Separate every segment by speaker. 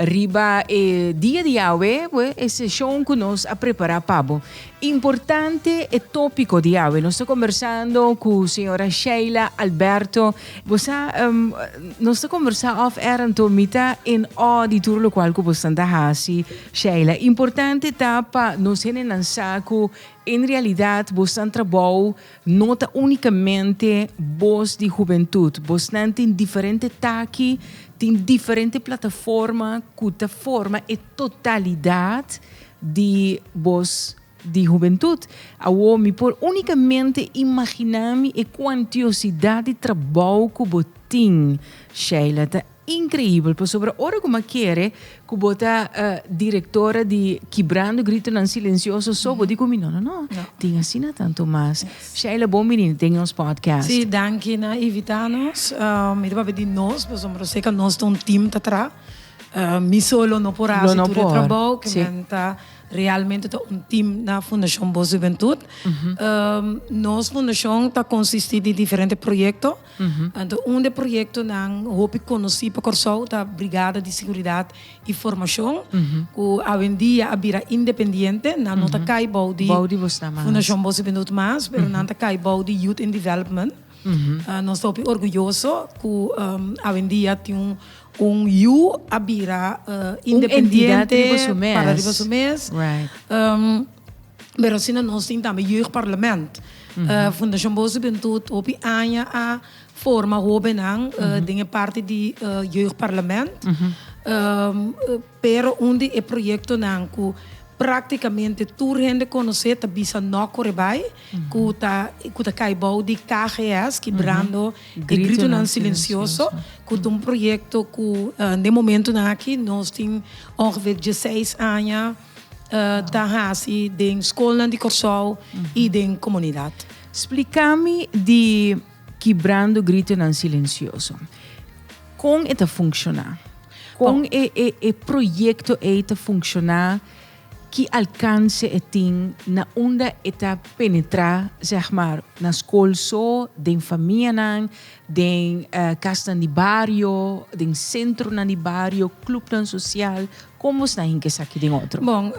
Speaker 1: Riba e dia di Yahwe, e seshon ku nos a prepará pa bo, Importante e tópiko di Yahwe. Nos ta kombersando ku señora Sheila Alberto. Bo sa, nos ta kombersá off air anto, mi ta en ó di tur lokual ku bo standa hasi, Sheila. Importante ta pa nos hendenan sa ku en realidat bo stan trabou No ta unikamente bos di hubentut, bosnan tin diferente taki, tin diferente plataforma ku ta forma e totalidat di bos di hubentut. Awo mi por unikamente imaginá mi e kuantiosidat di trabou ku bo tin, Sheila ta Increibel pasobra ora cu m'a kere cu bo ta directora di Kibrando Gritonan Silencioso so bo di cu mi no no no tin asina tanto mas. Sheila bon bini den nos podcast. Si, danki na invita nos. Mi ta papia di nos pasobra ose ca nos ta un team ta tra. Mi solo no por hasi tur e trabou cu nan ta realmente ta un team na Fundacion Bos Hubentud. Nos fundacion ta consisti di diferente proyecto Anto un di e proyektonan hopi konosí pa Kòrsou ta Brigada di Seguridat i Formashon, ku awendia a bira independiente. Nan no ta kai bou di Fundashon Boso Benut mas, pero nan ta kai bou di Youth in Development. Nos ta hopi orguyoso ku awendia tin un yu a bira independiente, para riba su mes. Berosina nos tin tambe Jeugdparlament. Fundacion Bosch Juventud hopi aña a forma hobennan den e parti di Jeugdparlament. Pero un di e proyectonan cu practicamente tur hende conoce ta bisa No Core Bay, cu ta cu ta cay bou di KGS, Kibrando e Gritonan Silencioso, cu ta un proyecto cu den momentonan aki nos tin ongeveer dieseis aña. ta hasi den skolnan di Kòrsou i den komunidat. Splika mi di Kibrando Gritonan Silensioso. Kon e ta funkshoná? Kon e proyekto ei ta funkshoná? Ki alkanse e tin na unda e ta penetrá zeg maar na skol so, den famianan, Den kasnan di bario, den sentronan di bario, klupnan sosial, kon bo sta hink esaki den otro? Bon,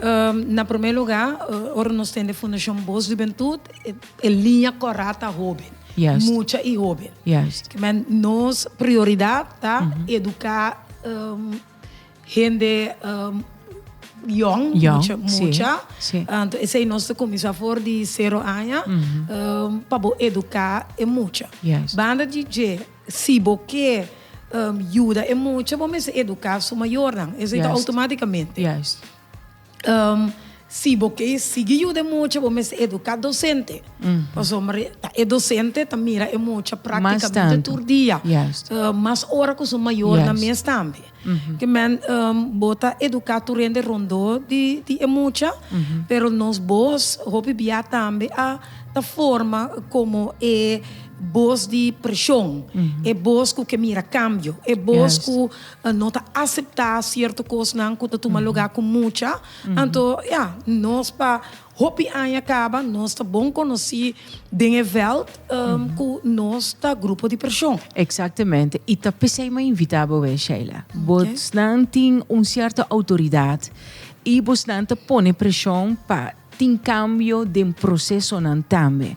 Speaker 1: na promé lugá, ora nos tende Fundashon Bos Hubentut, e liña kòrá ta hóben, mucha i hóben. Ke men nos prioridat ta eduká. hende yòn, mucha, anto esei nos ta kuminsá for di sero aña pa bo eduká e mucha. Banda di dje si bo ke yuda e mucha bo mester eduká su mayornan, esei ta outomátikamente. Si bo ke sigui yuda e mucha bo mester educa docente pasobra e docente ta mira e mucha practicamente tur dia mas ora cu su mayornan mes tambe kimen bo ta educa tur hende rondor di e mucha pero nos boos hopi bia tambe a ta forma como e boos di presion e boos cu ke mira cambio e boos cu. No ta aseptá sierto kosnan ku ta tuma lugá ku mucha. Anto ya, nos pa hopi aña kaba nos ta bon konosí den e vèlt ku nos ta grupo di preshon. Eksaktemente. I ta p'esei mi a invitá bo awé, Sheila. Bosnan tin un sierto outoridat i bosnan ta pone preshon pa Tin cambio den procesonan tambe.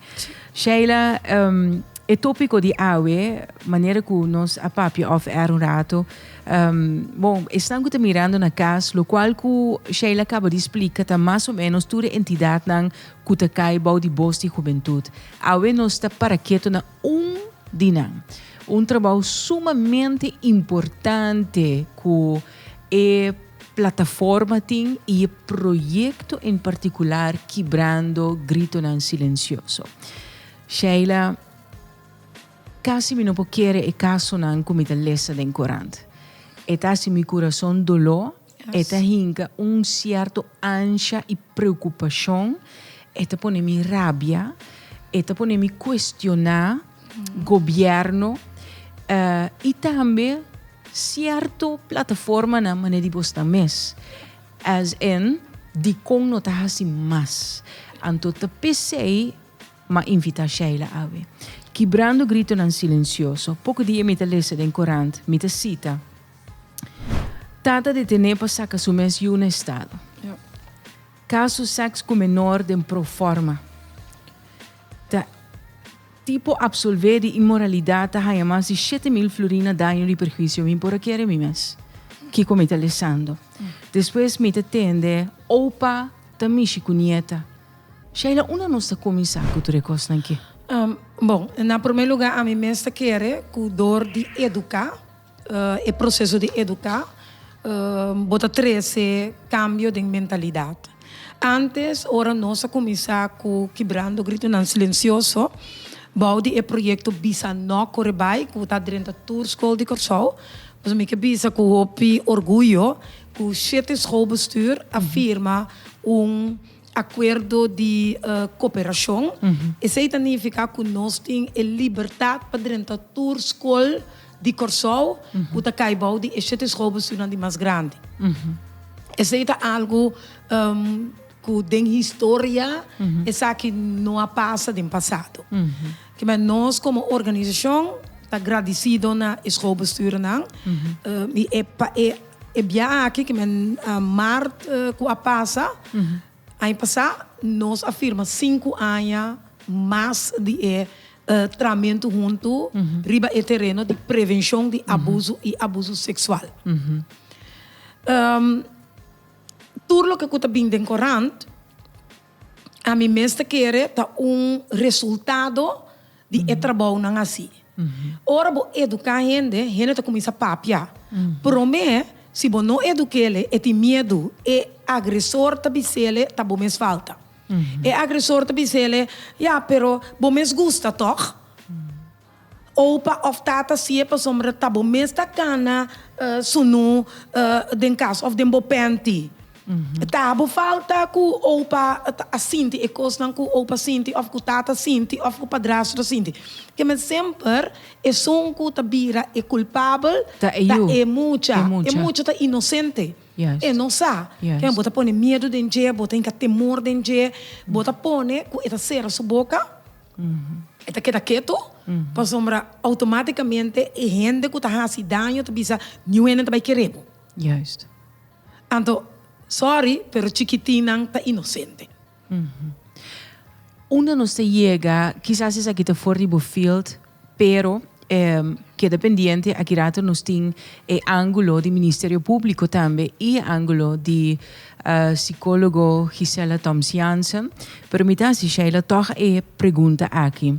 Speaker 1: Sheila, um, e tópico di awe, manera cu nos a papia of air un rato, um, bon, esnan cu ta mirando na cas, lo cual cu Sheila caba di splica ta mas o menos tur e entidadnan cu ta cai bou di Bos di Hubentud. Awe nos ta para keto na un di nan. Un trabou sumamente importante cu e plataforma tin y e proyecto en particular kibrando gritonan silencioso. Sheila, Casi mi no por kere e casonan cu mi ta lesa den corant. E ta haci mi curason doló, e ta hinca un cierto ansha y preocupacion, e ta pone mi rabia, e ta pone mi cuestiona gobierno y tambe cierto plataformanan manera di bos ta mes as in dicon no ta haci mas anto ta pesey ma invita Sheila awe kibrando gritonan silencioso poco dia mi ta lesa den corant mi ta cita ta ta detene pa saca su mes yu na estado caso sex cu menor den proforma. Ta ti por absolve di inmoralidad ta haya mas di shete mil fluri na daño di perhuicio mi por a kere mi mes kico mi ta lesando. Despues mi ta tende opa ta mishi cu nieta. Sheila, unda nos ta cuminsa cu tur e cosnan ki? Bon, na primer lugar ami mes ta kere cu door di educa e proceso di educa bo ta trece cambio den mentalidad. Antes ora nos a cuminsa cu kibrando gritonan silencioso bao di e proyecto Bisa No Core Bai cu ta drenta tur school di Corsou, pasobra mi ke bisa cu hopi orguyo cu shete schoolbestuur a firma un acuerdo di cooperacion. Esey ta nifica cu nos tin e libertad pa drenta tur school. di Kòrsou ku ta kai bou di e shete schoolbestuurnan di mas grandi. Esei ta algu ku den historia esaki no a pasa den pasado. Kimes nos komo organisashon ta gradisido na e schoolbestuurnan i e pa e biaha aki kimes mart ku a pasa, Aña pasá nos a firma sinku aña mas di e tramentu huntu riba e tereno di prevenshon di abuso i abuso seksual. Tur loke ku ta bin den korant ami mes ta kere ta un resultado. di e trabounan así. Ora bo eduká hende, hende ta kuminsá papia. Promé, si bo no edukéle, e tin miedu. E agresor ta bisele, Ta bo mes falta. E agresor ta bisele, Ya, pero bo mes gusta tòg? Oupa òf tata si'e pasobra ta bo mes ta kana sunú den kas òf den bo pènti. Ta bo falta ku opa a sinti e kosnan ku opa sinti òf ku tata sinti òf ku padrastro sinti. Ke men semper esun ku ta bira e kulpabel ta e mucha. E mucha ta inosente. E no sa. Kende bo ta pone miedu den dje, bo ta hinka temor den dje, bo ta pone ku e ta sera su boka, e ta keda ketu, pasobra outomatikamente e hende ku ta hasi daño ta bisa, Niun hende no ta bai kere bo. Anto, sorry, pero chikitinnan ta inosente. Unda nos ta yega, kisas esaki ta for di bo field, pero keda pendiente, aki rato nos tin e angulo di Ministerio Públiko tambe i e angulo di sikólogo Gisela Thoms Jansen, pero mi ta hasi Sheila tòg e pregunta aki.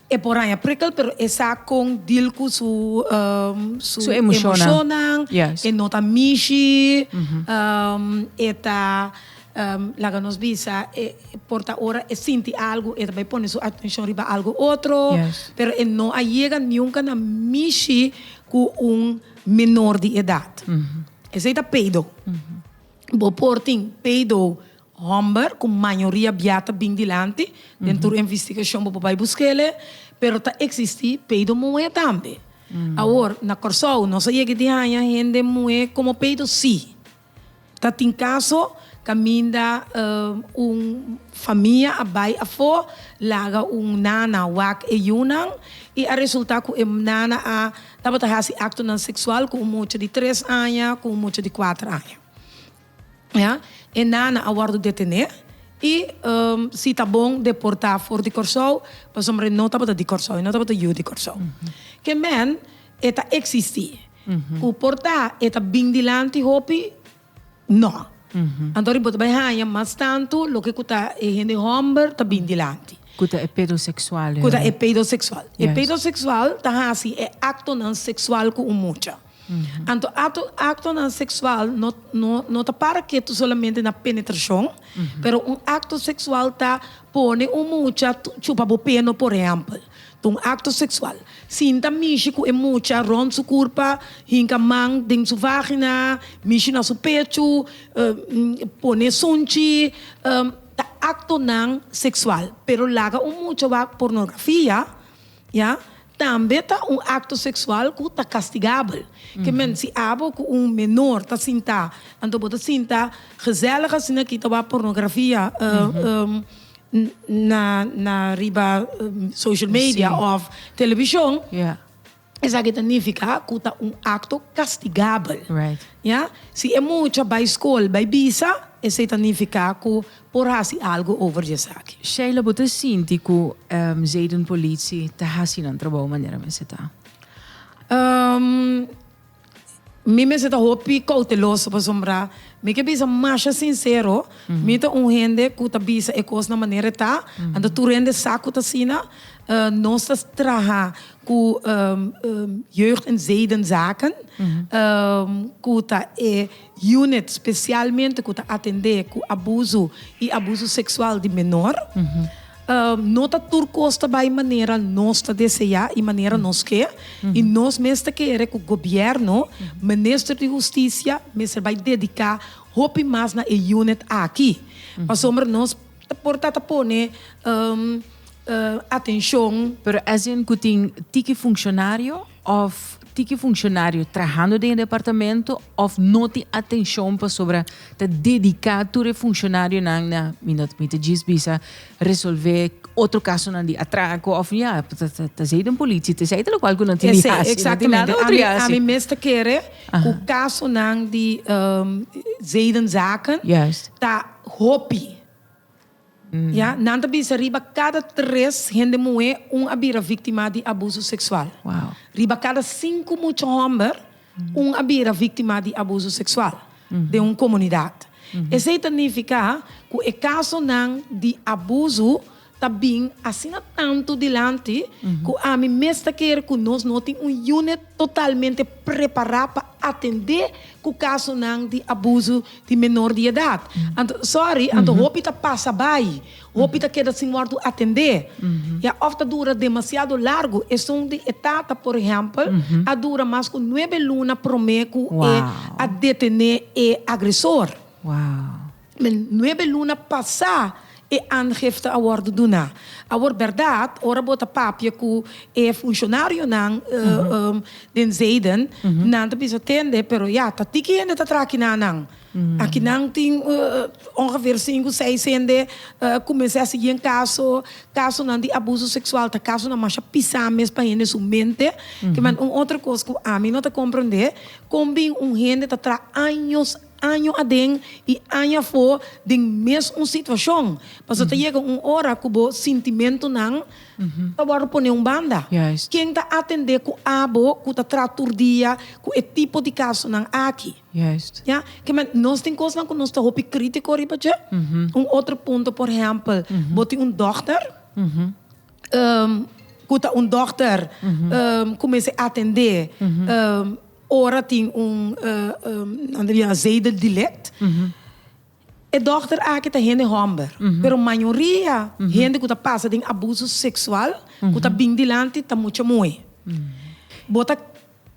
Speaker 1: E por haña prikkel, pero e sa kon deal ku su su emoshonnan, e no ta mishi, e ta laga nos bisa e por ta ora e sinti algu e ta bai pone su atenshon riba algu otro, pero e no a yega nunka na mishi ku un menor di edat. Esei ta pedo. Bo por tin pedo Homber cu mayoria bia ta bin dilanti den tur investigacion bo por bay busquele, pero ta existi peido muhe tambe. Awor, na Corsou nos a yega di haya hende muhe como peido si. Ta tin caso caminda un famia a bay afo laga un nana wak e yunan y a resulta cu e nana a tabata haci actonan sexual cu un mucha di tres aña cu un mucha di cuater aña. Ya, e nana a wòrdu detené i si ta bon deportá for di Kòrsou, pasobra e no tabata di Kòrsou, e no tabata yu di Kòrsou. Ke mèn e ta eksistí, ku por ta e ta bin dilanti hopi? No. Anto riba bo ta bai haña mas tantu loke ku ta e hende hòmber ta bin dilanti. Ku ta e pedoseksual. Ku ta e pedoseksual. E pedoseksual ta hasi e aktonan seksual ku un mucha. Anto akto aktonan seksual no no no ta para ketu solamente na penetrashon, pero un akto seksual ta pone un mucha chupa bo peno por ehèmpel, ta un akto seksual. Sinta mishi ku e mucha rònt su kurpa, hinka man den su vágina, mishi na su pechu, pone sunchi, ta aktonan seksual. Pero laga un mucha wak pornografia. Ya. Tambe ta un acto sexual cu ta castigabel. Ke men si abo cu un menor ta sinta, anto bo ta sinta gezellig asina aki ta wak pornografia na riba social media of television, esaki ta nifica cu ta un acto castigabel. Ya. Si e mucha bay school bay bisa, esey ta nifica cu. por hasi algu over di esaki. Sheila, Bo ta sinti ku Zayden Polici ta hasi nan trabou manera mester ta? Mi mester ta hopi kouteloso pasobra mi ke bisa masha sinsero, mi ta un hende ku ta bisa e kos na manera e ta, anto tur hende sa ku ta asina. Nos ta traha ku Jeugd en Zaydenzaken ku ta e. Unit spesialmente ku ta atendé ku abuso i abuso seksual di menor. No ta tur kos ta bai manera nos ta deseá i manera nos ke, i nos mester kere ku gobièrnu, Minister di Hustisia mester bai dediká hopi mas na e unit aki, pasobra nos. Por ta ta pone atencion. Pero esnan cu tin tiki funcionario of tiki funcionario trahando den e departamento of no tin atencion pasobra ta dedica tur e funcionarionan na, mi no mi ta djis bisa, resolve otro casonan di atraco of ya ta esey den politie, ta esey ta locual cu nan tin di haci, nan tin nada otro di haci. Ami mes ta kere cu casonan di zedenzaken ta. Hopi. Ya, nan ta bisa riba kada tres hende muhé un a bira víktima di abuso seksual. Riba kada sinku mucha hòmber un a bira víktima di abuso seksual den un komunidat. Esei ta nifiká ku e kasonan di abuso ta bin asina tantu dilanti ku ami mes ta kere ku nos no tin un unit totalmente prepará pa atendé ku kasonan di abuso di menor di edat. Anto, sòri, anto hopi ta pasa bai, hopi ta keda sin wòrdu atendé, ya òf ta dura demasiado largu. Esun di e tata, por ehèmpel, a dura mas ku nuebe luna promé ku e a detené e agresor. Den nuebe luna pasá e aangifte a wòrdu duná. Awor bèrdat, ora bo ta papia ku e funshonarionan den Zeiden, nan ta bisa, Tende, pero ya, ta tiki hende ta traha akiná nan? Aki nan tin ongeveer sinku, seis hende kuminsá a sigui en kaso. Kasonan di abuso seksual ta kasonan masha pisá mes pa hende su mente. Kiman un otro kos ku ami no ta komprondé, kon bin un hende ta traha años, Año aden i año afó den mes un situashon, paso ta yega un ora ku bo sintimentunan ta wòrdu pone un banda. Ken ta atendé ku abo ku ta traha tur dia ku e tipo di kasonan aki? Ya ke men, nos tin kosnan ku nos ta hopi krítiko riba dje. Un otro punto, por ehèmpel, bo tin un dòkter ku ta un dòkter ku mester atendé. Ora tin un nan ta bira Zeidel de Ligt. E dòkter aki ta hende hòmber, pero mayoria hende ku ta pasa den abuso seksual ku ta bin dilanti ta mucha muhé. Bo ta.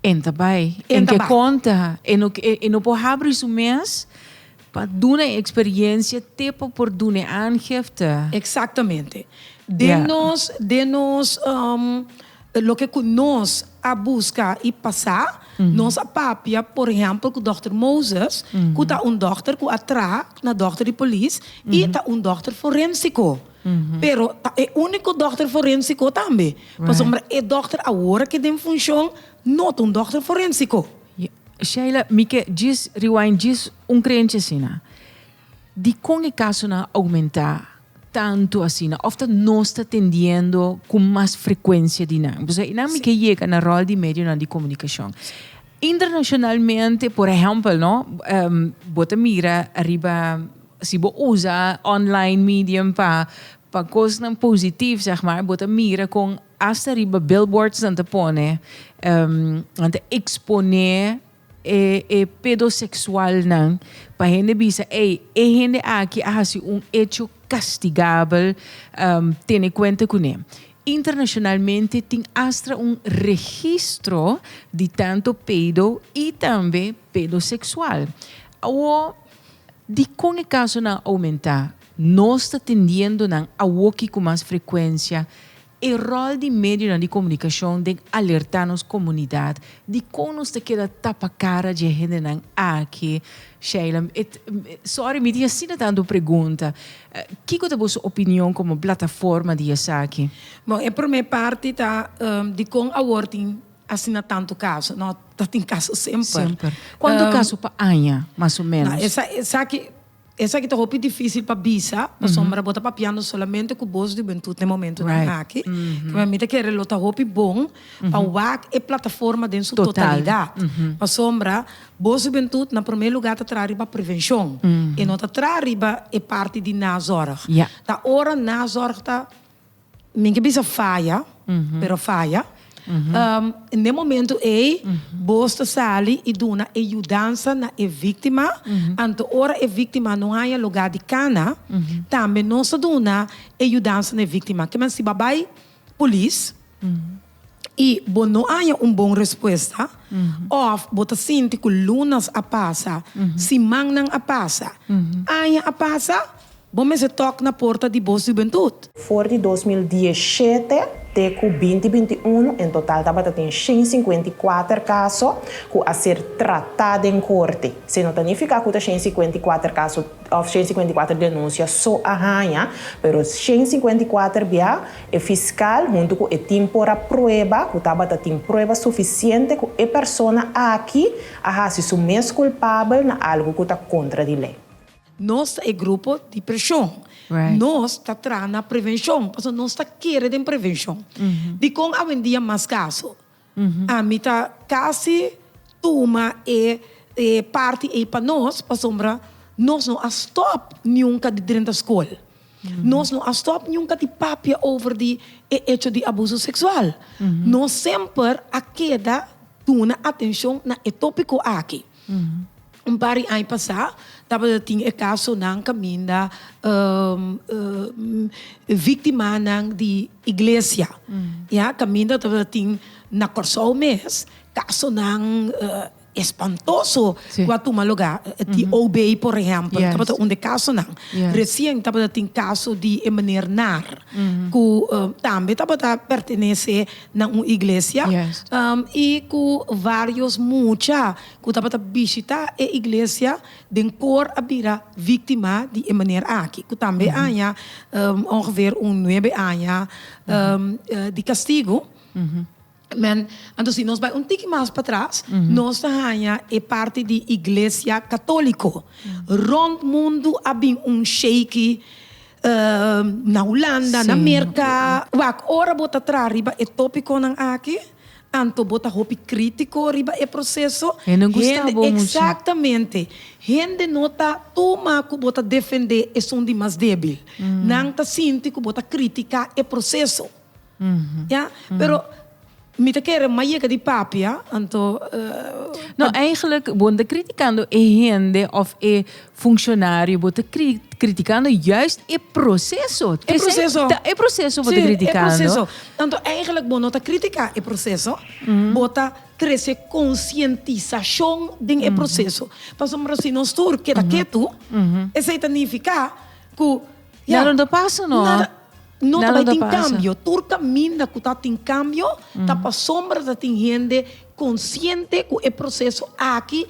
Speaker 1: Enta bai. Enta bai. Enke konta. E no por habri su mes. Pa duna e experiencia te pa por duna e aangifte. Exactamente. Den nos, den nos loke cu nos a busca y pasa, nos a papia, por ehempel, cu Dokter Moses, cu ta un dokter cu a traha na dokter di polis y ta un dokter forensico. Pero ta e unico dokter forensico tambe, pasobra e dokter awor aki den funcion no ta un dokter forensico. Sheila, Mi ke djis rewind djis un kreencia asina. Dikon e kasonan a oumentá tantu asina òf ta nos ta tendiendo ku mas frekuensia di nan? Pasobra einan mi ke yega na ròl di medionan di komunikashon. Internashonalmente, por ehèmpel, no? Bo ta mira ariba, si bo usa online medium pa pa kosnan positiv, sègmà, bo ta mira kon, Asta riba billboards nan ta pone, nan ta exponé e pedosexualnan pa hende bisa, ey, e hende aki a haci un hecho castigabel, tene cuenta cu ne. Internacionalmente tin astra un registro di tanto pedo y tambe pedosexual. Awor, dicon e casonan a aumenta? Nos ta tendiendo nan awoki cu mas frecuencia e rol di medionan di comunicacion den alerta nos comunidad di con nos ta keda tapa cara dje hendenan aki. Sheila, Sorry, mi tin asina tanto pregunta. Kico ta boso opinion como plataforma di esaki? Bon, e prome parti ta dicon awor tin asina tanto caso? No, ta tin caso semper. Semper. Cuanto caso pa aña, mas o menos? Esaki. Esaki ta hopi difísil pa bisa, pasobra bo ta papiando solamente ku bos hubentut na e momentunan aki. Kibera mi ta kere lo ta hopi bon pa wak e plataforma den su totalidat, pasobra bos hubentut na promé lugá ta traha riba prevenshon, e no ta traha riba e parti di nazòrg. Ta ora nazòrg ta. Mi ke bisa faya, pero faya. Na e momento ei bos ta sali i duna e yudansa na e víktima, anto ora e víktima no haña lugá di kana, tambe nos ta duna e yudansa na e víktima. Kiman si bo a bai polis, i bo no haña un bon respuesta, òf bo ta sinti ku lunas a pasa, simannan a pasa, aña a pasa, bo mester tòk na porta di bo hubentut. For di dos mil diesshete te ku binti binti unu en total tabata tin shen sinkuenta i kuater kaso ku a ser tratá den korte. Se no ta nifiká ku ta shen sinkuenta i kuater kaso òf shen sinkuenta i kuater denunsia so a haña, pero shen sinkuenta i kuater bia E fiskal huntu ku e tim por a prueba ku tabata tin prueba sufisiente ku e persona aki a hasi su mes kulpabel na algu ku ta kontra di lei. Nos ta e grupo di preshon. Nos ta traha na prevenshon pasobra nos ta kere den prevenshon. Dikon awendia mas kaso? Ami ta casi tuma e parti ey pa nos pasobra nos no a stop nunca di drenta school. Nos no a stop nunca di papia over di e hecho di abuso sexual. Nos semper a keda duna atencion na e topico aki. Un par di aña pasá tabata tin e kasonan kaminda víktimanan di iglesia, ya. Kaminda tabata tin na Kòrsou mes kasonan espantoso ku a tuma lugá. Di OB, por ehèmpel, tabata un di e kasonan. Resien tabata tin kaso di e meneer Naar, ku tambe tabata pertenesé na un iglesia i ku vários mucha ku tabata bishitá e iglesia den kor a bira víktima di e manera aki ku tambe a haña ongeveer un nuebe aña di kastigu. Men, anto si nos bai un tiki mas patras, nos ta haña e parti di iglesia katóliko rònt mundu a bin un sheiky na Hulanda, na Merka, wak ora bo ta traha riba e topikonan aki, anto bo ta hopi kritiko riba e proseso, hende, eksaktamente, hende no ta tuma ku bo ta defendé esun di mas débil, nan ta sinti ku bo ta kritiká e proseso. Ya, pero mi ta kere mas yega di papi, a, anto. No, eigenlijk, bo no ta criticando e hende of e functionario, bo ta criticando juist e proceso. E proceso. Ta, e proceso bo ta criticando. Si, e proceso. Anto eigenlijk bo no ta critica e proceso, bo ta trece concientisacion den e proceso. Pasobra si nos tur keda ketu, esei ta nifica cu. Ya. Nada ta pasa no. Nada, no ta bai tin cambio. Tur caminda cu ta tin cambio, ta pasobra ta tin hende consciente cu e proceso aki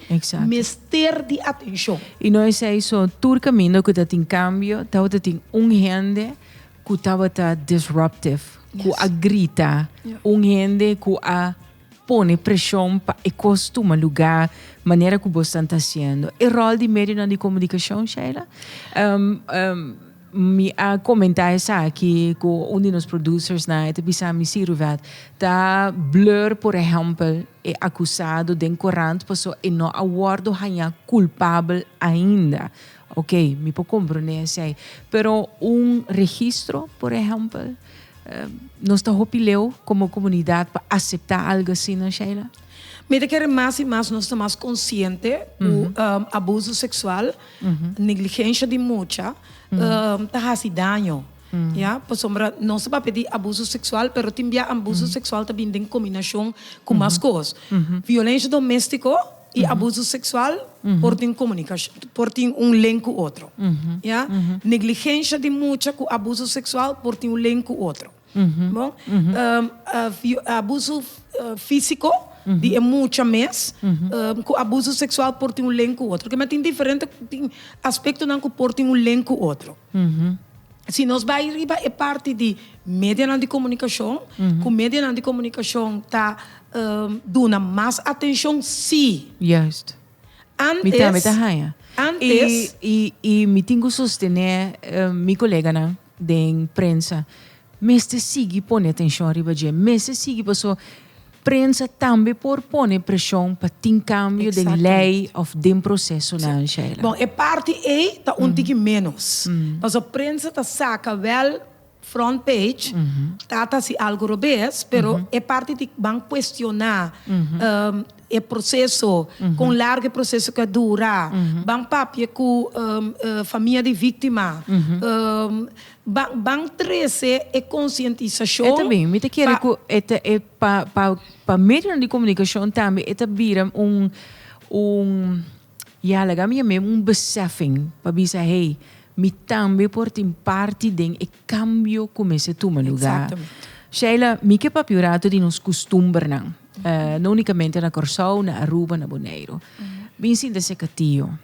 Speaker 1: mester di atencion. Y no esey so, tur caminda cu ta tin cambio, tabata tin un hende cu tabata disruptive, cu a grita, un hende cu a. Pone preshon pa e kos tuma lugá manera ku bosnan ta hasiendo. E ròl di medionan di komunikashon, Sheila? Mi a komentá esaki ku un di nos produsersnan, e ta bisa mi, sí, Ruvet, ta blur, por ehèmpel, e akusado den korant paso e no a wòrdu hañá kulpabel ainda. Oke, mi por komprondé esei. Pero un registro, por ehèmpel, Nos ta hopi leu komo komunidat pa aseptá algu asina, Sheila? Mi ta kere mas i mas nos ta mas konsiente ku abuso seksual, negligensha di mucha ta hasi daño, ya. Pasobra nos ta papia di abuso seksual pero tin bia abuso seksual ta bini den kombinashon ku mas kos. Violensha doméstiko. i abuso seksual por tin komunikashon, por tin un len ku otro. Ya. Negligensha di mucha ku abuso seksual por tin un len ku otro. Bon, abuso físiko di e mucha mes ku abuso seksual por tin un len ku otro. Kema tin diferente aspektonan ku por tin un len ku otro. Si nos bai riba e parti di medianan di komunikashon, ku medianan di komunikashon ta. duna mas atencion si. Juist. Antes. Mi tambe ta haña. Antes. Y, y, y mi tin cu sostene mi coleganan den prensa, mester sigui pone atencion riba dje, mester sigui paso prensa tambe por pone presion pa tin cambio den ley of den procesonan, Sheila. Bon, e parti ey ta un tiki menos, paso prensa ta saca wel Front page ta ta si algo robes pero e parti di ban cuestiona e proceso con largo e proceso ca dura ban papia cu famia di victima ban trece e concientisacion pa pa medionan di comunicacion tambe e ta bira un. I a laga mi amem un besèfing pa bisa, Hey, mi tambe por tin parti den e kambio ku mester tuma lugá. Sheila, mi ke papia un ratu di nos kustumbernan, no únikamente na Kòrsou, na Aruba, na Boneiru. Bin sinta seka tio.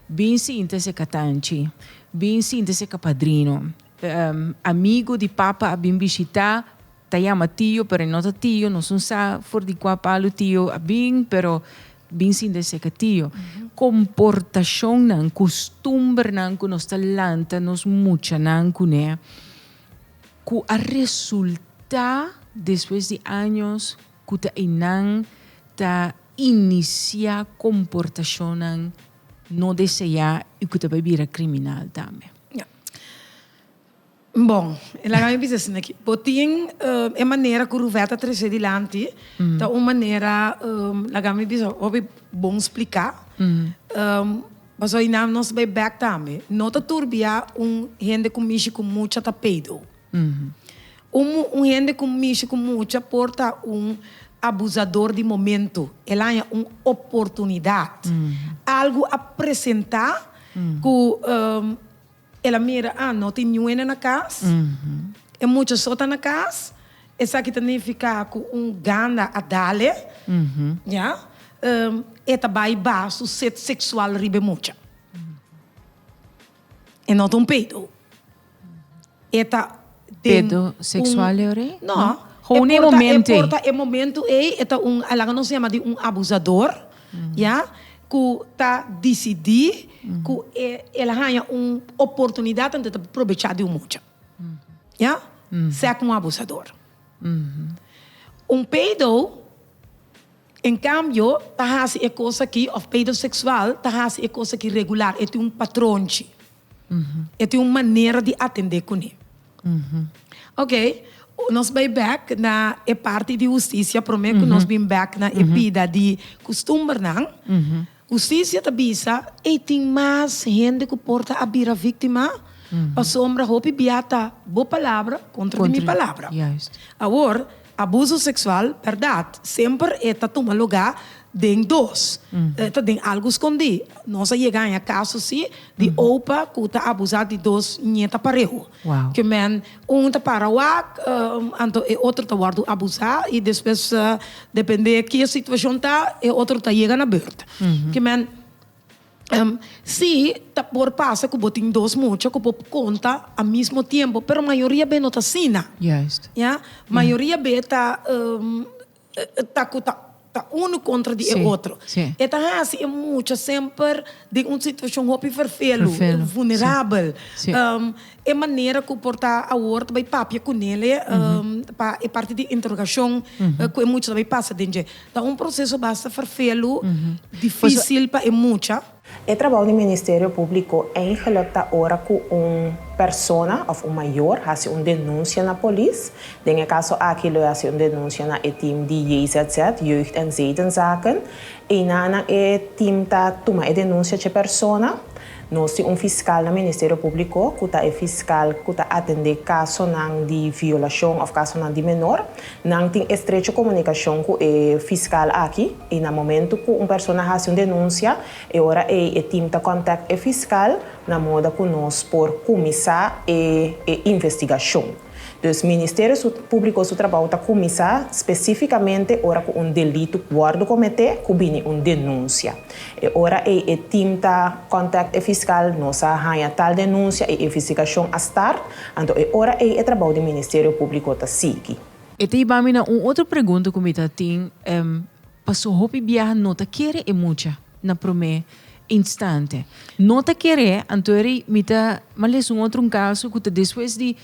Speaker 1: Bin sinta seka tanchi. Bin sinta seka padrino. Amigu di papa a bin bishitá. Ta yama tio pero e no ta tio, nos no sa for di cua palu tio a bin pero bin sin de ser ca tio. Comportacionnan, costumbernan cu nos ta lanta nos muchanan cune cu a resulta despues di años cu ta eynan ta inicia comportacionnan no desea y cu ta bay bira criminal tambe. Bon, e laga mi bisa asina aki. Bo tin e manera ku Ruvet ta trese dilanti, ta un manera, laga mi bisa, hopi bon spliká. Paso ayina nos bai bèk tambe. No ta tur bia un hende ku mishi ku mucha ta pedo. Un hende ku mishi ku mucha por ta un abusador di momento. El a haña un oportunidat. Algu a presentá ku. El a mira, ah, no tin niuena na cas, e mucha so ta na cas, esaki ta nifica cu un ganda a dale, ya, e ta bay ba su set sexual riba e mucha. E no ta un peido. E ta. Pedo seksual leu rei? No. Houn e momento ei. E por ta e momento ei, e ta un, a laga nos yama di un abusador, ya, ku ta disidí ku e, el a haña un oportunidat anto e ta probechá di un mucha. Ya. Sea komo un abusador. Un pedo. En cambio, ta haci e cos aki of pedosexual ta haci e cos aki regular, e tin un patronchi, e tin un manera di atende cune. Ok, nos bay back na e parti di husticia prome cu nos bin back na e bida di custumbernan. Hustisia ta bisa ei tin mas hende ku por ta a bira víktima, pasobra hopi bia ta bo palabra kontra di mi palabra. Awor, abuso seksual, bèrdat, semper e ta tuma lugá den dos. E ta den algu skondí. Nos a yega haña kaso así di opa ku ta abusá di dos ñeta pareu. Ke men. Un ta para wak, anto e otro ta wòrdu abusá i despues dependé ke e situashon ta, e otro ta yega na bèrt. Ki men, sí, ta por pasa ku bo tin dos mucha ku bo konta a mismo tiempo, pero mayoria be no ta asina. Ya, mayoria be ta. ta cu ta ta uno contra di e otro. E ta haci e mucha semper den un situacion hopi vervelu, vulnerabel. E manera cu por ta awor ta bay papia cu Nele pa e parti di interogacion cu e mucha ta bay pasa den dje. Ta un proceso basta vervelu, dificil pa e mucha. E trabou di Ministerio Públiko eingeluk ta ora ku un persona òf un mayor hasi un denunsia na polis. Den e kaso aki lo e hasi un denunsia na e tim di JZZ, Jeugd en Zedenzaken. Eina nan e tim ta tuma e denunsia dje persona. Nos tin un fiskal na Ministerio Públiko ku ta e fiskal ku ta atendé kasonan di violashon òf kasonan di menor. Nan tin estrecho comunicacion cu e fiscal aki y na momento cu un persona haci un denuncia, e ora ey e team ta contact e fiscal na moda cu nos por cuminsa e e investigacion. Dus Ministerio su Publico su trabou ta cuminsa specificamente ora cu un delito wordo comete cu bini un denuncia. E ora ei e team ta contact e fiscal, nos a haña tal denuncia y e vestigacion a start, anto e ora ei e trabao di Ministerio Publico ta sigui. E ta iba mi na un otro pregunta cu mi ta tin, paso hopi biaha no ta kere e mucha na prome instante. No ta kere, anto eri mi ta males un otro un caso cu ta despues di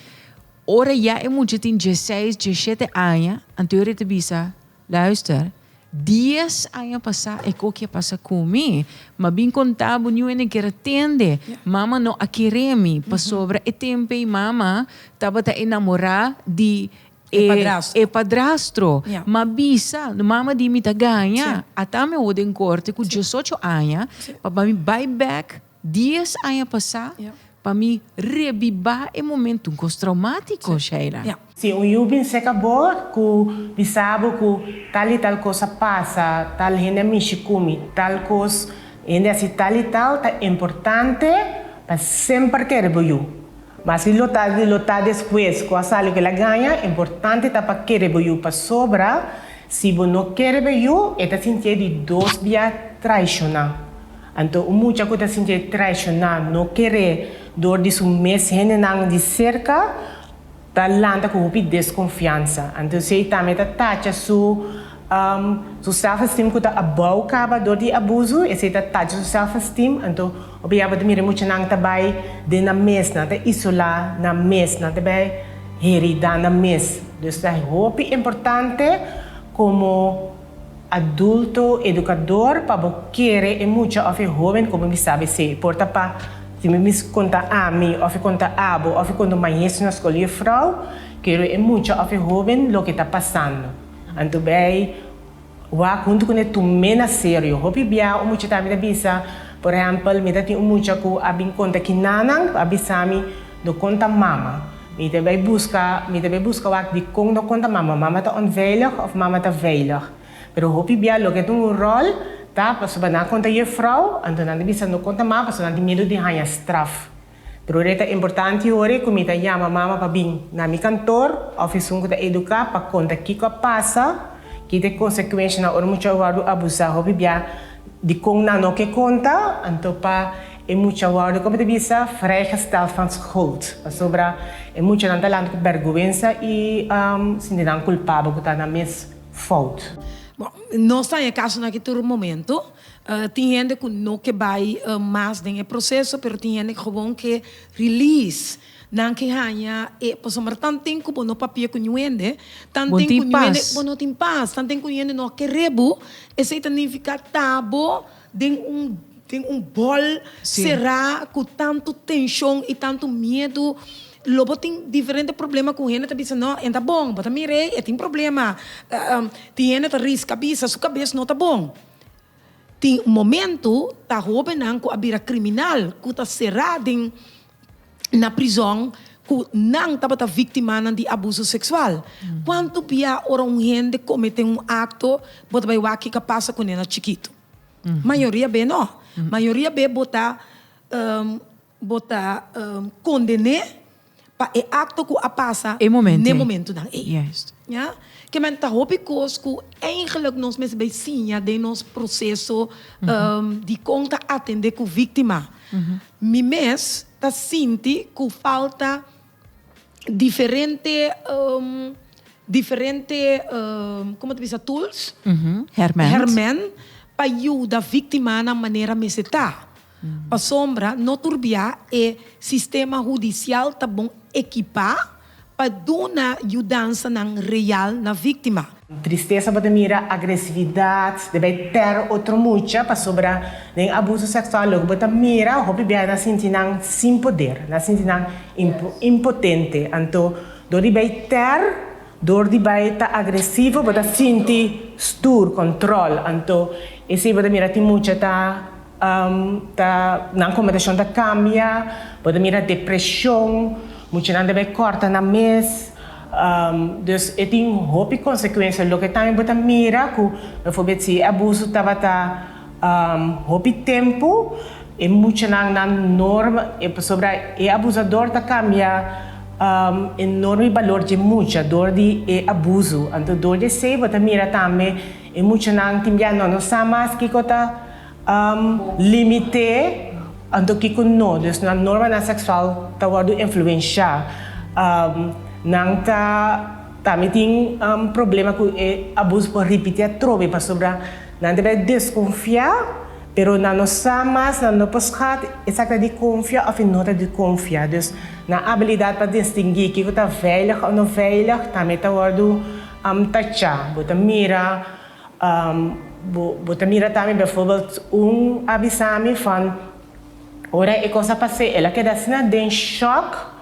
Speaker 1: ora ya e mucha tin diesseis, diesshete aña, anto eri ta bisa, Luister, dies aña pasá e koki a pasa ku mi. M'a bin kontá bo niun ene kere tende. Mama no a kere mi pasobra e tempei mama tabata enamorá di e e padrastro. M'a bisa, mama di mi ta gaña. Ata mi a wok den korte ku diesocho aña pa mi bai bèk. Dies aña pasá, pa mi rebibá e momentu kos traumátiko, Sheila. Si un yu bin seka bo ku bisa bo ku tal i tal kos a pasa, tal hende a mishi ku mi, tal kos, hende a si tal i tal, ta importante pa semper kere bo yu. Maske lo ta lo ta despues ku a sa loke el a gaña, importante ta pa kere bo yu pasobra si bo no kere bo yu, e ta sintié di dos bia traishoná. Anto un mucha ku ta sintié traishoná, no keré dor di su mes hendenan di serka, ta lanta ku hopi deskonfiansa. Anto esei tambe ta tacha su su self-esteem ku ta abou kaba dor di abusu, esei ta tacha su self-esteem. Anto hopi abo ta mira e muchanan ta bai den nan mes, nan ta isolá nan mes, nan ta bai heridá nan mes. Dus ta hopi importante komo Adulto edukador pa bo kere e mucha òf e hóben komo mi sa bis'é. Por ta pa si mi mis konta ami òf e konta abo òf e konta un maestro na skol di e frou kere e mucha òf e hóben loke ta pasando. Anto bai wak huntu ku ne tum'é na serio. Hopi bia un mucha ta mi ta bisa, por ehèmpel mi ta tin un mucha ku a bin konta kinanan ku a bisa mi Lo konta mama. Mi ta bai buska, mi ta bai buska wak di kon lo konta mama. Mama ta onveilig of mama ta veilig. Pero hopi bia loke e ta un ròl ta pasobra nan a konta jufrou, anto nan ta bisa lo konta mama pasobra nan tin miedu di haña straf. Pero ora e ta importante yori ku mi ta yama mama pa bin na mi kantor of esun ku ta eduká pa konta kiko a pasa, ki ta e konsekuenshanan ora muchu a wòrdu abusá. Hopi bia di kon nan no ke konta, anto pa. E mucha a wòrdu ku bo ta bisa vrijgesteld van schuld pasobra e muchanan ta lanta ku bèrguwensa i sinti nan kulpabel ku ta nan mes fout. Bon, nos ta haya kasonan aki tur momentu. Tin hende ku no ke bai mas den e proseso, pero tin hende ku gewoon ke release. Nan ke haña e, pasobra tanten ku bo no papia ku niun hende, tanten ku niun hende bo no tin pas, tanten ku niun hende no a kere bo, esei ta nifiká ta bo Den un den un bòl será ku tantu tenshon i tantu miedu lo bo tin diferente problema ku hende ta bisa no en ta bon bo ta mira ei e tin problema tin hende ta riska bisa su kabes no ta bon tin momento ta hobennan ku a bira kriminal ku ta sera den na prizon ku nan tabata viktimanan di abuso seksual. Kuantu bia ora un hende kometé un akto bo ta bai wak kiko pasa kuné na chikitu? Mayoria be no. Mayoria be bo ta bo ta kondené pa e akto ku a pasa n'e momentunan ei. Ya. Ke men ta hopi kos ku eingelik nos mester bai siña den nos proseso di kon ta atendé ku víktima. Mi mes ta sinti cu falta diferente, diferente, como ta bisa, tools, herment, pa yuda victimanan manera mester ta. Pasobra no tur bia e sistema hudicial ta bon ekipa pa duna yudansanan real na víktima. Tristesa pa ta mira agresividat den bay per otro mucha pasobra den abuso seksual loke bo ta mira hopi biaha nan sinti nan sin poder, nan sinti nan impotente. Anto dor di bay ter, dor di bay ta agresivo bo ta sinti stuur, control, anto esey bo ta mira tin mucha ta. ta nan komentacion ta cambia bo ta mira depresion mucha nan ta bay corta nan mes dus e tin hopi consecuencia loke tambe bo ta mira cu bijvoorbeeld si e abuso tabata hopi tempo e mucha nan nan norma pasobra e abusador ta cambia e norma y balor dje mucha door di e abuso anto door di esey bo ta mira tambe E muchanan tin bia no, no sa mas kiko ta limite, anto kiko no. Dus nan normanan seksual ta wòrdu influenshá. Nan ta tambe tin problema ku e abuso por ripití atrobe pasobra nan ta bira deskonfiá, pero nan no sa mas, nan no por skat e sak ta di konfia òf e no ta di konfia. Dus nan abilidat pa distinguí kiko ta veilig òf no veilig tambe ta wòrdu. Am ta cha. Bo ta mira, um, bo, bo ta mira tambe, bijvoorbeeld, un a bisa mi van, ora e cos a pas'é, el a keda asina den shock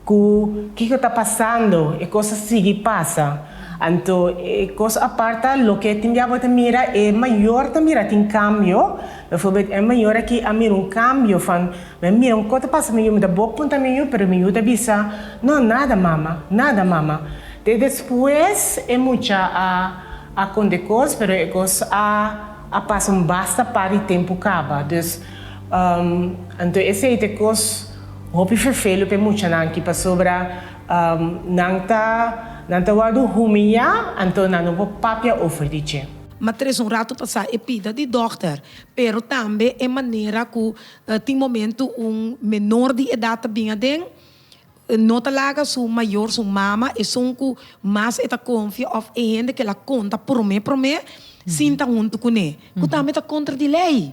Speaker 1: cu kico ta pasando, e cos a sigui pasa. Anto, e cos apart ta loke tin bia bo ta mira, e mayor también a tin cambio, bijvoorbeeld, e mayor aki a mira un cambio van, m'a mira un cos ta pasa mi yu, mi ta bo punta mi yu, pero mi yu ta bisa, no, nada mama, nada mama. Te despues e mucha a a kondekos, pero e kos a a pasa un basta par di tempu kaba. Dus, anto esei te kos hopi ferfelu p'e muchanan aki, pasobra nan ta nan ta wòrdu humiliá, anto nan no por papia over di dje. Ma tres un ratu pasá e pida di dòkter, pero tambe e manera ku tin momentu un menor di edat ta bin aden, No ta laga su mayor, su mama, esun cu mas e ta confia of e hende cu el a conta prome prome, sinta hunto cu ne. Cu tambe ta contra di ley.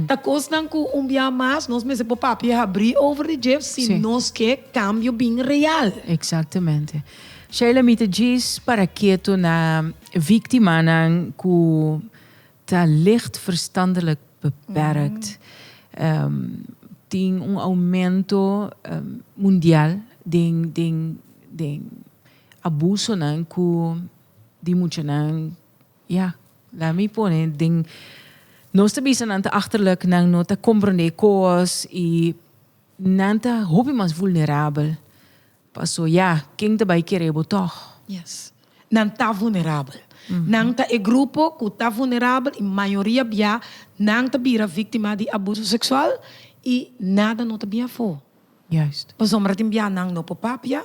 Speaker 1: Ta cosnan cu un biaha mas nos mester por papia habri over di dje si nos ke cambio bin real. Exactamente. Sheila mi ta djis para keto na victimanan cu. Ta licht verstandelijk beperkt. Tin un aumento mundial den abusonan cu di muchanan, ya, laat me pone den, nos ta bisa nan ta achterlijk, nan no ta comprende cos y nan ta hopi mas vulnerabel. Paso ya, ken ta bai kere bo tog? Yes. Nan ta vunerabel. Nan ta e grupo cu ta vunerabel y mayoria bia nan ta bira victima di abuso sexual y nada no ta bin afo. Juist. Pasobra tin bia nan no por papia,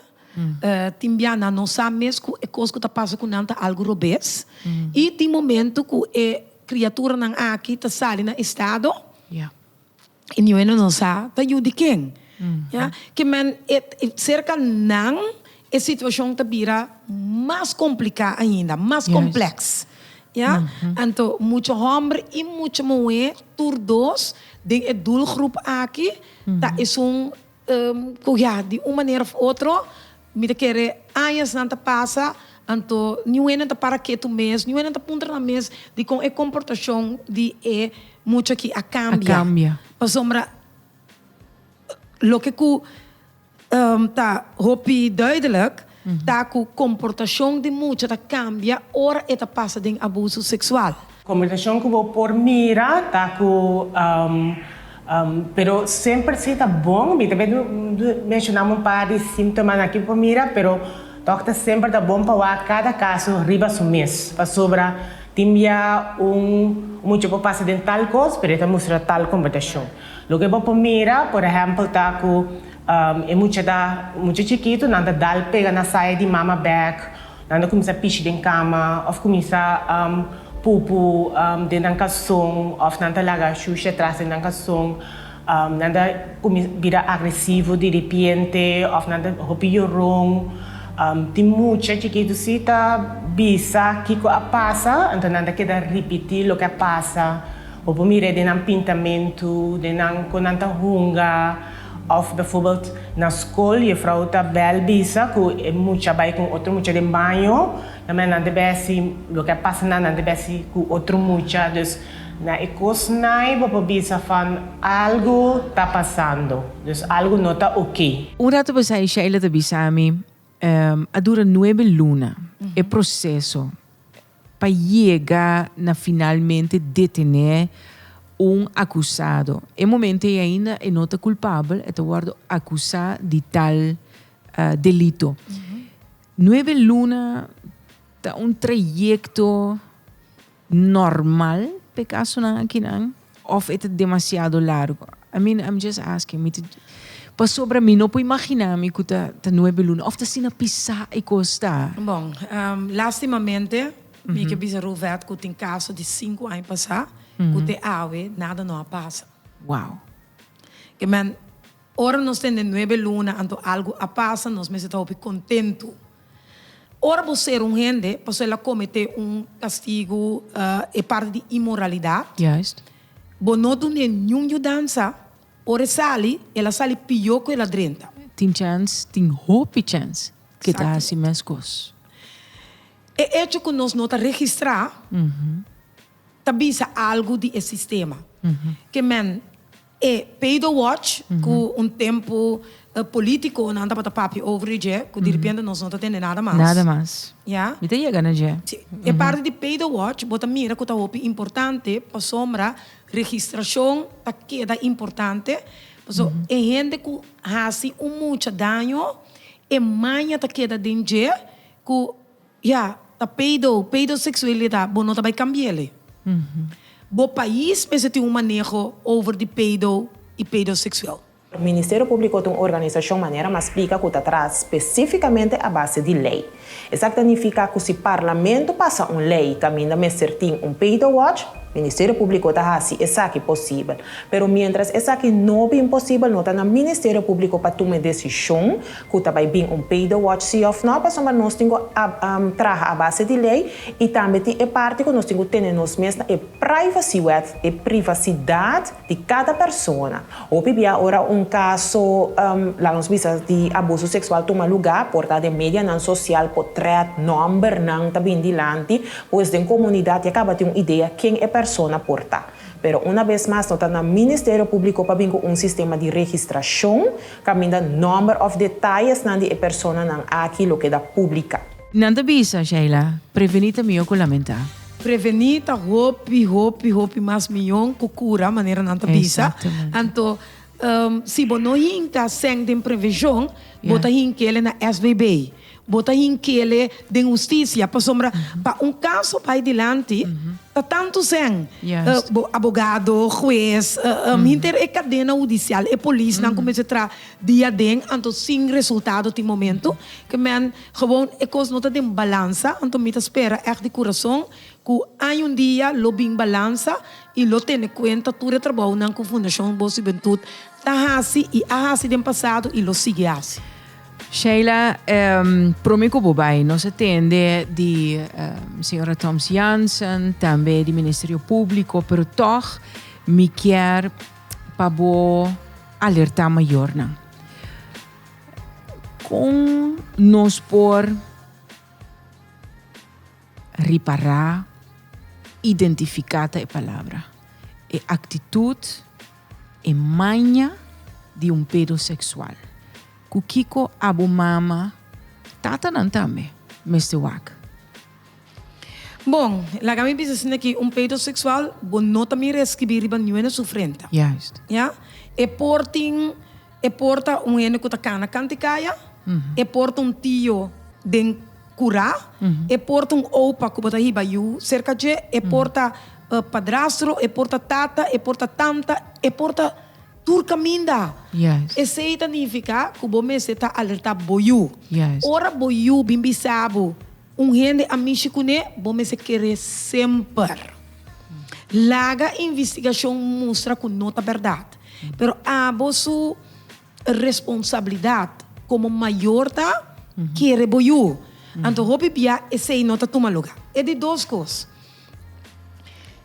Speaker 1: tin bia nan no sa mes cu e cos cu ta pasa cu nan ta algo robes y tin momento cu e criaturanan aki ta sali na estado, E niño e no nos sa ta yu di ken. Ya ke men e serka nan e situashon ta bira mas kompliká ainda, mas komplèks. Ya anto muchu hòmber i muchu muhé tur dos den e dulgrup aki ta esun. ku ya di un manera of otro mi ta kere añasnan ta pasa, anto ni un hende no ta para ketu mes, ni un hende no ta puntra nan mes dikon e komportashon di e mucha aki a kambia, pasobra loke ku ta hopi duidelik. Ta ku komportashon di mucha ta kambia ora e ta pasa den abuso seksual. Komportashon ku bo por mira ta ku, pero semper si ta bon, mi ta bai menshonam un par di símtomanan aki bo por mira, pero tok ta semper ta bon pa wak kada kaso riba su mes, pasobra tin bia un mucha por pasa den tal kos pero e ta mustra tal komportashon. Loke bo por mira, por ehèmpel, ta ku. E mucha ta mucha chikitu, nan ta dal pega na saya di mama bek, nan ta kuminsá pishi den kama òf kuminsá pupu den nan kalson òf nan ta laga shushi atras den nan kalson. Nan ta kuminsá bira agresivo di ripiente òf nan ta hopi yoron. Tin mucha chikitu si ta bisa kiko a pasa, anto nan ta keda ripití loke a pasa. Bo por mir'é den nan pintamentu, den nan kon nan ta hunga. Of bijvoorbeeld na school juffrouw ta bel bisa cu e mucha bay con otro mucha den baño, na manera nan ta besi loke a pasa nan, nan ta besi cu otro mucha, dus na e cosnan bo por bisa van algo ta pasando, dus algo no ta ok. Un rato pasay Sheila ta bisa mi, a dura nuebe luna e proceso, pa yega na finalmente detené un akusado. E momento ei ainda e no ta kulpabel, e ta wòrdu akusá di tal delito. Nuebe luna ta un trayekto normal p'e kasunan akinan. Of e ta demasiado largo. I mean I'm just asking, mi ta pasobra mi no por imagina mi cu ta ta nuebe luna of ta asina pisa e cos ta. Bon, lastimamente mi ke bisa Ruvet cu tin caso di cinco aña pasa cu te awe nada no a pasa. Wow. Ke men. Ora nos tende nuebe luna anto algu a pasa, nos mester ta hopi kontentu. Ora bo sera un hende pasobra el a kometé un kastigu, e parti di inmoralidat, bo no dun'é niun yudansa, ora e sali, el a sali pió ku el a drenta. Tin chèns, tin hopi chèns ku e ta hasi meskos. E echo ku nos no ta registrá ta bisa algu di e sistema. Ke men. E Paydo Watch, ku un tempu e politikonan tabata papia over di dje, ku direpente nos no ta tende nada mas. Nada mas. Ya. Mi ta yega na dje. Sí. E parti di Paydo Watch bo ta mira ku ta hopi importante pasobra registrashon ta keda importante. Paso e hende ku hasi un mucha daño, e maña ta keda den dje ku. Ya, ta pedo, pedoseksualidat, bo no ta bai kambi'el e. Bo pais mester tin un maneho over di pedo i pedoseksual. Ministerio Públiko ta un organisashon manera mas splika ku ta traha spesífikamente a base di lei. Esaki ta nifiká ku si Parlamento pasa un lei kaminda mester tin un Pedo Watch, Ministerio Públiko ta hasi esaki posibel. Pero miéntras esaki no bin posibel no ta na Ministerio Públiko pa tuma e desishon, cu ta bay bin un pay de watch si of no, pasobra nos tin cu traha a base di ley y tambe tin e parti cu nos tin cu tene nos mes na e privacywet, e privacidad, di cada persona. Hopi bia ora un caso, laga nos bisa, di abuso sexual tuma lugar, por ta den medianan social, por threat, nombernan ta bin dilanti, pues den comunidad ya caba tin un idea ken e persona por ta. Pero una vez mas no ta na Ministerio Publico pa bin cu un sistema di registracion, Caminda nomber of detayesnan di e personanan aki lo keda publica. Nan ta bisa, Sheila, preveni ta mihó ku lamentá. Preveni ta hopi, hopi, hopi mas mihó ku kura, manera nan ta bisa. Anto, si bo no hinka sèn den previshon, bo ta hink'e na SVB. Bo ta hinkele den hustisia pasobra pa un kaso bai dilanti ta tantu sèn, abogado, hues, hinter e kadena hudisial, e polisnan ku mester traha dia aden anto sin resultado tin momentu ku men gewoon e kos no ta den balansa. Anto mi ta spera ègt di kurason ku aña un dia lo bin balansa i lo tene kuenta tur e trabounan ku Fundashon Bos Hubentut ta hasi i a hasi den pasado i lo sigui hasi. Sheila, prome ku bo bai nos a tende di señora Thoms Jansen, tambe di Ministerio Públiko, pero tòg mi kier pa bo alertá mayornan. Kon nos por ripará, identifiká ta e palabra, e aktitut, E maña di un pedoseksual. Ku kiko abo mama? Tatanan tambe mester wak. Bon, laga mi bisa asina aki, un pedoseksual bo no ta mira e skibi riba niue na su frente. Juist. Ya? E por tin. E por ta un hende ku ta kana kantikaya, e por ta un tio den kura, e por ta un opa ku bo ta hiba yu serka dje, e por ta padrastro, e por ta tata, e por ta tanta, e por ta tur kaminda. Esei ta nifiká ku bo mester ta alertá bo yu. Ora bo yu bin bisa bo. Un hende a mishi kuné bo mester keré semper. Laga investigashon mustra ku no ta bèrdat, pero abo su responsabilidat komo mayor ta kere bo yu. Anto hopi bia esei no ta tuma luga. E di dos kos.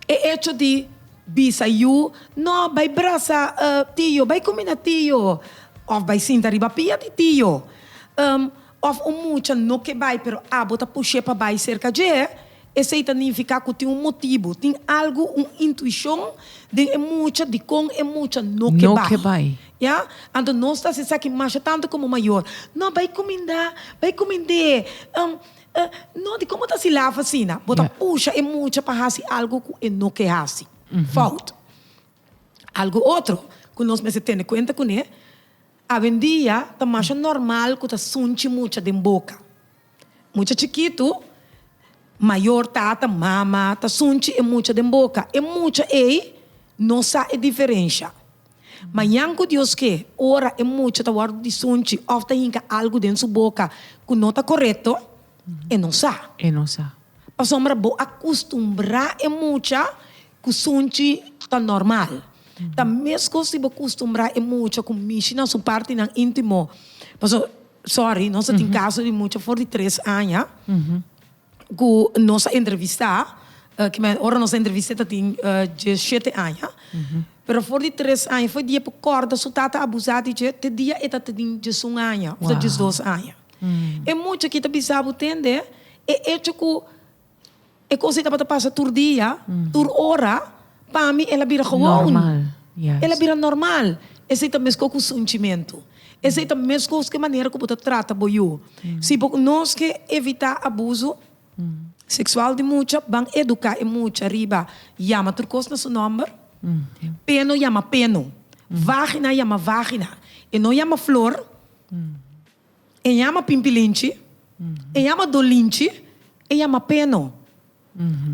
Speaker 1: E echo di bisa yu, No, bai brasa tio, bai kuminda tio, òf bai sinta riba pia di tio. Òf un mucha no ke bai pero abo ta push'é pa bai serka dje, esei ta nifiká ku tin un motibu, tin algu, un intuishon den e mucha di kon e mucha no ke bai. Ya? Anto nos ta hasi esaki masha tantu komo mayor. No, bai kumindá, bai kumind'é, em, e, no, di komo ta hasi laf asina? Bo ta pusha e mucha pa hasi algu ku e no ke hasi. Fout. Algu otro ku nos mester tene kuenta kuné. Awendia ta masha normal ku ta sunchi mucha den boka. Mucha chikitu, mayor, tata, mama ta sunchi e mucha den boka. E mucha ei no sa e diferensha. Mañan ku Dios ke, ora e mucha ta wòrdu di sunchi òf ta hinka algu den su boka ku no ta korekto, e no sa. E no sa. Pasobra bo a kustumbrá e mucha Ku sunchi ta normal. Ta mescos si bo custumbra e mucha cu mishi na su partinan intimo. Pasobra, sorry, nos a tin caso di mucha for di tres aña cu nos a entrevista, ki me ora nos a entrevista e ta tin diesshete aña, pero for di tres aña fue dia bo corda su tata a abusa di dje te dia e ta tin diesun aña of ta diesdos aña. E mucha aki ta bisa bo tende e hecho cu E cosa ei tabata pasa tur dia, tur ora, pa mi el a bira gewoon. El a bira normal. Esei ta mescó cu sunchimento. Esei ta mescó cu e manera cu bo ta trata bo yu. Si bo nos ke evitá abuso sexual di mucha, ban educá e mucha riba yama tur cos na su nomber. Peno yama peno. Vagina yama vagina. E no yama flor. E yama pimpilinchi, e yama dolinchi, e yama peno.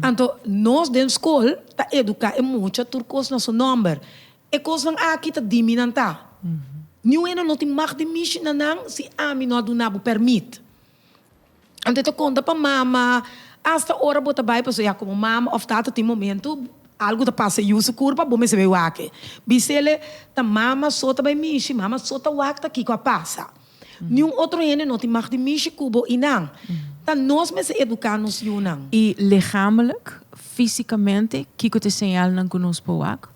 Speaker 1: Anto nos den skol ta eduká e mucha tur kos na su nòmber. E kosnan aki ta dimi nan ta. Niun hende no tin mag di mishi na nan si ami no a duna bo pèrmit. Anto e ta konta pa mama, asta ora bo ta bai pasobra ya komo mama òf tata tin momentu algu ta pasa yu su kurpa bo mester bai wak e. Bisele ta mama so ta bai mishi, mama so ta wak ta kiko a pasa. Niun otro hende no tin mag di mishi ku bo i nan ta nos mester eduká nos yunan. I legamelijk, físikamente, kiko ta e señalnan ku nos por wak?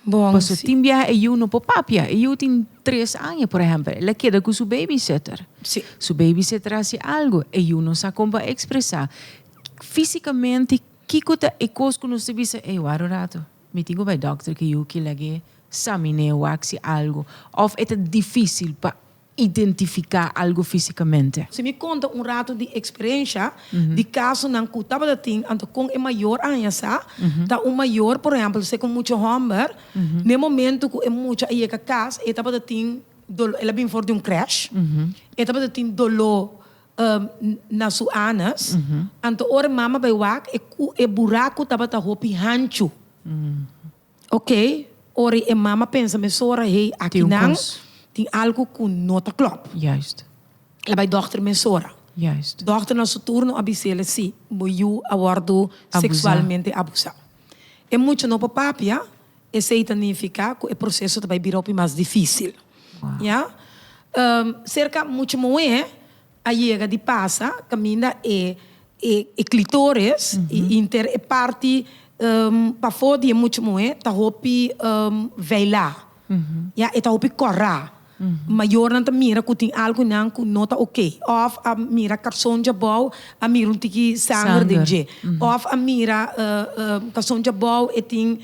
Speaker 1: Bon, Paso si. tin biaha e yu no por papia. E yu tin tres aña, por ehempel. El a keda cu su babysitter. Si. Su babysitter a haci algo. E yu no sa con pa expresa fisicamente kico ta e cos cu nos ta bisa, ey, ward un rato, mi tin cu bay doctor cu yu kilagu'e sa mi n'e wak si algo. Of e ta dificil pa. identifica algo fisicamente. Si mi conta un rato di experiencia di casonan cu tabata tin anto con e mayor a haña sa, ta un mayor por ehempel sek un mucha homber, n'e momento cu e mucha a yega cas e tabata tin dolo, el a bini for di un crash, e tabata tin dolo na su anus, anto ora e mama a bay wak e buraco tabata hopi hanchu. Ok, ora e mama pensa mesora, hey, aki nan tin algu ku no ta klòp. El bai dòkter mesora. Dòkter na su turno a bise'e, sí, bo yu a wòrdu seksualmente abusá. E mucha no por papia, esei ta nifiká ku e proseso ta bai bira hopi mas difísil. Serka mucha muhé A yega di pasa caminda e e clitoris y inter e parti pafo di e mucha muhe ta hopi veila, ya e ta hopi corra. Mayornan ta mira cu tin algo nan cu no ta ok, of a mira calzon djabou a mira un tiki sanger den dje, of a mira calzon djabou e tin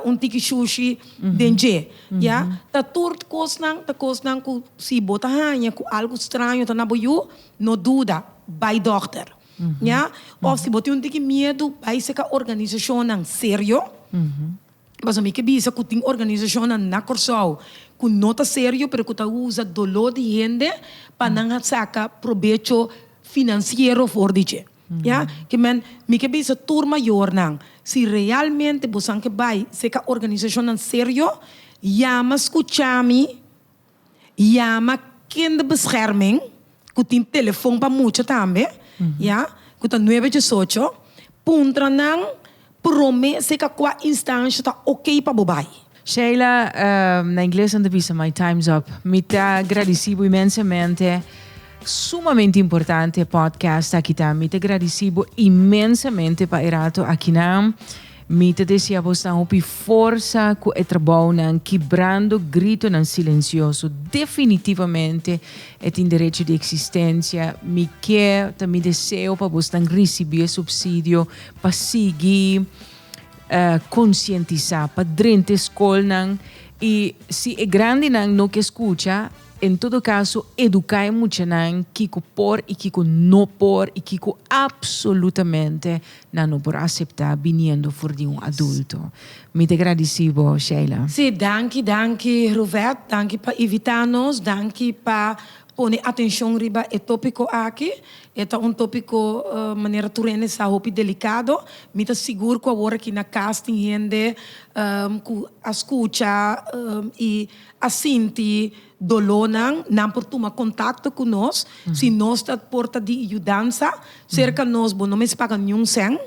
Speaker 1: un tiki shushi den dje. Ya, ta tur kosnan, ta kosnan ku si bo ta haña ku algu straño ta na bo yu, no duda, bai dòkter. Ya, òf si bo tin un tiki miedu, bai seka organisashonnan serio, pasobra mi ke bisa ku tin organisashonnan na Kòrsou ku no ta serio pero ku ta usa doló di hende pa nan a saka probecho finansiero for di dje. Ya ke men mi ke bisa tur mayornan, si realmente bosan ke bai seka organisashonnan serio, yama skucha mi, yama Kinderbescherming ku tin telefon pa mucha tambe, ya, ku ta nuebe diesocho, puntra nan Prome seca cua instancia ta ok pa bo bay? Sheila, Na ingles nan ta bisa My time's up. Mi ta gradici bo inmensamente. Sumamente importante e podcast aki ta. Mi ta gradici bo inmensamente pa e rato akinan. Mi ta desea bo snan hopi forsa cu e trabounan kibrando gritonan silencioso. Definitivamente e tin derecho di existencia. Mi ke ta mi deseo pa bo snan ricibi e subsidio. pa sigui konsientisá, pa drenta e skolnan i si e grandinan no ke skucha, en todo kaso eduká e muchanan kiko por i kiko no por i kiko apsolutamente nan no por aseptá biniendo for di un adulto. Mi ta gradisí bo, Sheila. Sí, danki, danki Ruvet, danki pa ivitá nos, danki pa. Pone atencion riba e topico aki. E ta un topico manera tur hende sa hopi delicado. Mi ta sigur cu awor aki na cas tin hende cu a scucha y a sinti dolornan. Nan por tuma contacto cu nos si nos ta por ta di yudansa cerca nos. Bo no mester paga niun cen.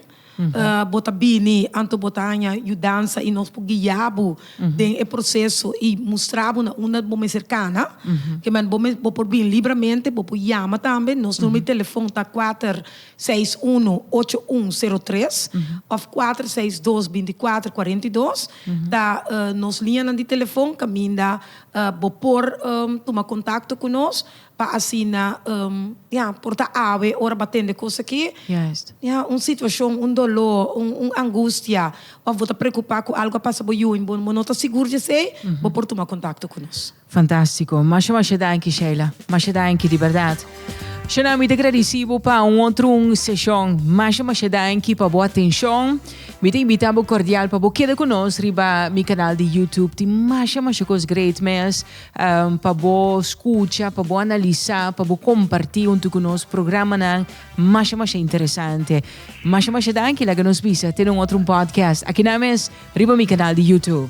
Speaker 1: Bo ta bini anto bo ta haña yudansa i nos por guia bo den e proseso i mustra bo na unda bo mester kana. Ke men bo mes bo por bin libramente, bo por yama tambe. Nos numero di telefon ta kuater seis uno ocho un sero tres òf kuater seis dos binti kuater kuarenta i dos. Ta nos liñanan di telefon kaminda bo por tuma kontakto ku nos. Pa asina ya por ta awe ora bo tende cos aki. Ya un situacion, un doló, un angustia of bo ta preocupa cu algo a pasa bo yu y bo no ta sigur di esey, bo por tuma contacto cu nos. Fantastico. Masha masha danki Sheila. Masha danki di berdad. Shana mi ta gradici bo pa un otro un sesion. Masha masha danki pa bo atencion. Mi ta invita bo cordial pa bo keda cu nos riba mi canal di YouTube. Tin masha masha cos great mes pa bo scucha, pa bo analisa, pa bo comparti huntu cu nos programanan masha masha interesante. Masha masha danki, laga nos bisa te un otro un podcast aki nan mes riba mi canal di YouTube.